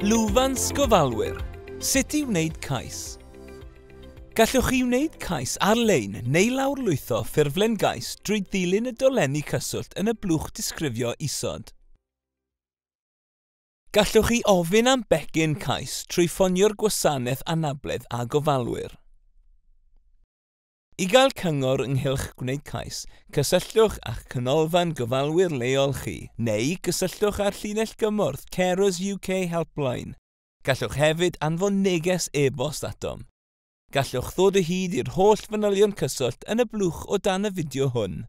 Lwfans gofalwyr, sut i wneud cais. Gallwch chi wneud cais ar-lein neu lawrlwytho ffurflen gais drwy ddilyn y dolenni cyswllt yn y blwch disgrifio isod. Gallwch chi ofyn am becyn cais trwy ffonio'r Gwasanaeth Anabledd a Gofalwyr. I gael cyngor ynghylch gwneud cais, cysylltwch â'ch Canolfan Gofalwyr leol chi, neu gysylltwch â'r llinell gymorth Carers UK Helpline. Gallwch hefyd anfon neges e-bost atom. Gallwch ddod o hyd i'r holl fanylion cyswllt yn y blwch o dan y fideo hwn.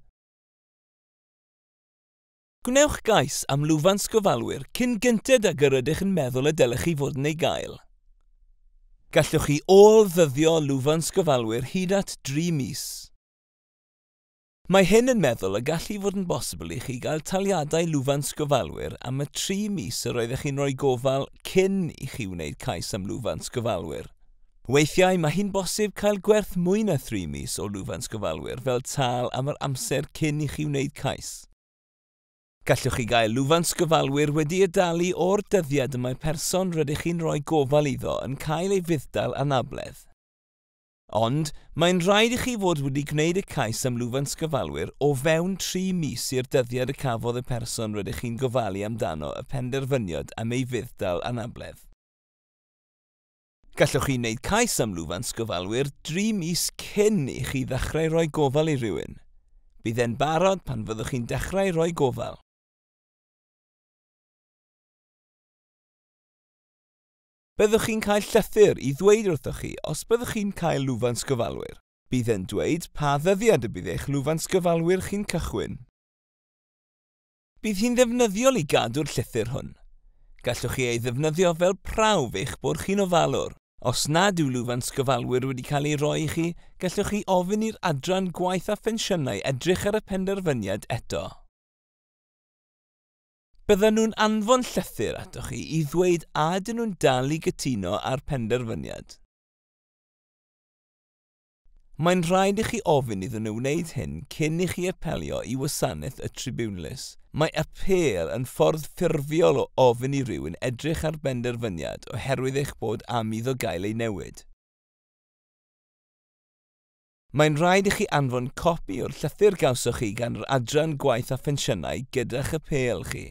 Gwnewch gais am lwfans gofalwyr cyn gynted ag yr ydych yn meddwl y dylech chi fod yn ei gael. Gallwch chi ôl-ddyddio lwfans gofalwyr hyd at dri mis. Mae hyn yn meddwl y gall fod yn bosibl i chi gael taliadau lwfans gofalwyr am y tri mis yr oeddech chi'n rhoi gofal cyn i chi wneud cais am lwfans gofalwyr. Weithiau mae hi'n bosib cael gwerth mwy na thri mis o lwfans gofalwyr fel tâl am yr amser cyn i chi wneud cais. Gallwch chi gael lwfans gyfalwyr wedi'i dalu o'r dyddiad y mae person rydych chi'n rhoi gofal iddo yn cael ei fudd-dal anabledd. Ond, mae'n rhaid i chi fod wedi gwneud y cais am lwfans gyfalwyr o fewn tri mis i'r dyddiad y cafodd y person rydych chi'n gofalu amdano y penderfyniad am ei fudd-dal anabledd. Gallwch chi wneud cais am lwfans gofalwyr dri mis cyn i chi ddechrau rhoi gofal i rywun. Bydd e'n barod pan fyddwch chi'n dechrau rhoi gofal. Byddwch chi'n cael llythyr i ddweud wrthoch chi os byddwch chi'n cael lwfans gofalwyr. Bydd e'n dweud pa ddyddiad y bydd eich lwfans gofalwyr chi'n cychwyn. Bydd hi'n ddefnyddiol i gadw'r llythyr hwn. Gallwch chi ei ddefnyddio fel prawf eich bod chi'n ofalwr. Os nad yw lwfans gofalwyr wedi cael ei roi i chi, gallwch chi ofyn i'r Adran Gwaith a Phensiynau edrych ar y penderfyniad eto. Byddan nhw'n anfon llythyr atoch chi i ddweud a ydyn nhw'n dal i gytuno â'r penderfyniad. Mae'n rhaid i chi ofyn iddyn nhw wneud hyn cyn i chi apelio i wasanaeth y tribiwnlys. Mae apêl yn ffordd ffurfiol o ofyn i rywun edrych ar benderfyniad oherwydd eich bod am iddo gael ei newid. Mae'n rhaid i chi anfon copi o'r llythyr gawsoch chi gan yr Adran Gwaith a Phensiynau gyda'ch apêl chi.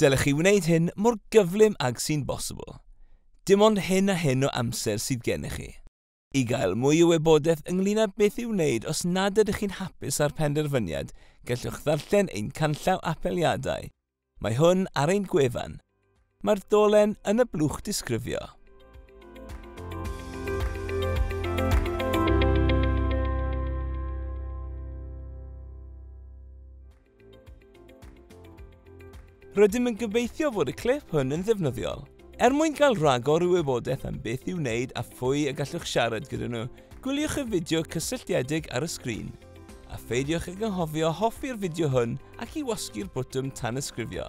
Dylech chi wneud hyn mor gyflym ag sy'n bosibl. Dim ond hyn a hyn o amser sydd gennych chi. I gael mwy o wybodaeth ynglŷn â beth i'w wneud os nad ydych chi'n hapus â'r penderfyniad, gallwch ddarllen ein canllaw apeliadau. Mae hwn ar ein gwefan. Mae'r dolen yn y blwch disgrifio. Rydym yn gobeithio fod y clip hwn yn ddefnyddiol. Er mwyn cael rhagor o wybodaeth am beth i'w wneud a phwy y gallwch siarad gyda nhw, gwyliwch y fideo cysylltiedig ar y sgrin. A pheidiwch ag anghofio hoffi'r fideo hwn ac i wasgu'r botwm tanysgrifio.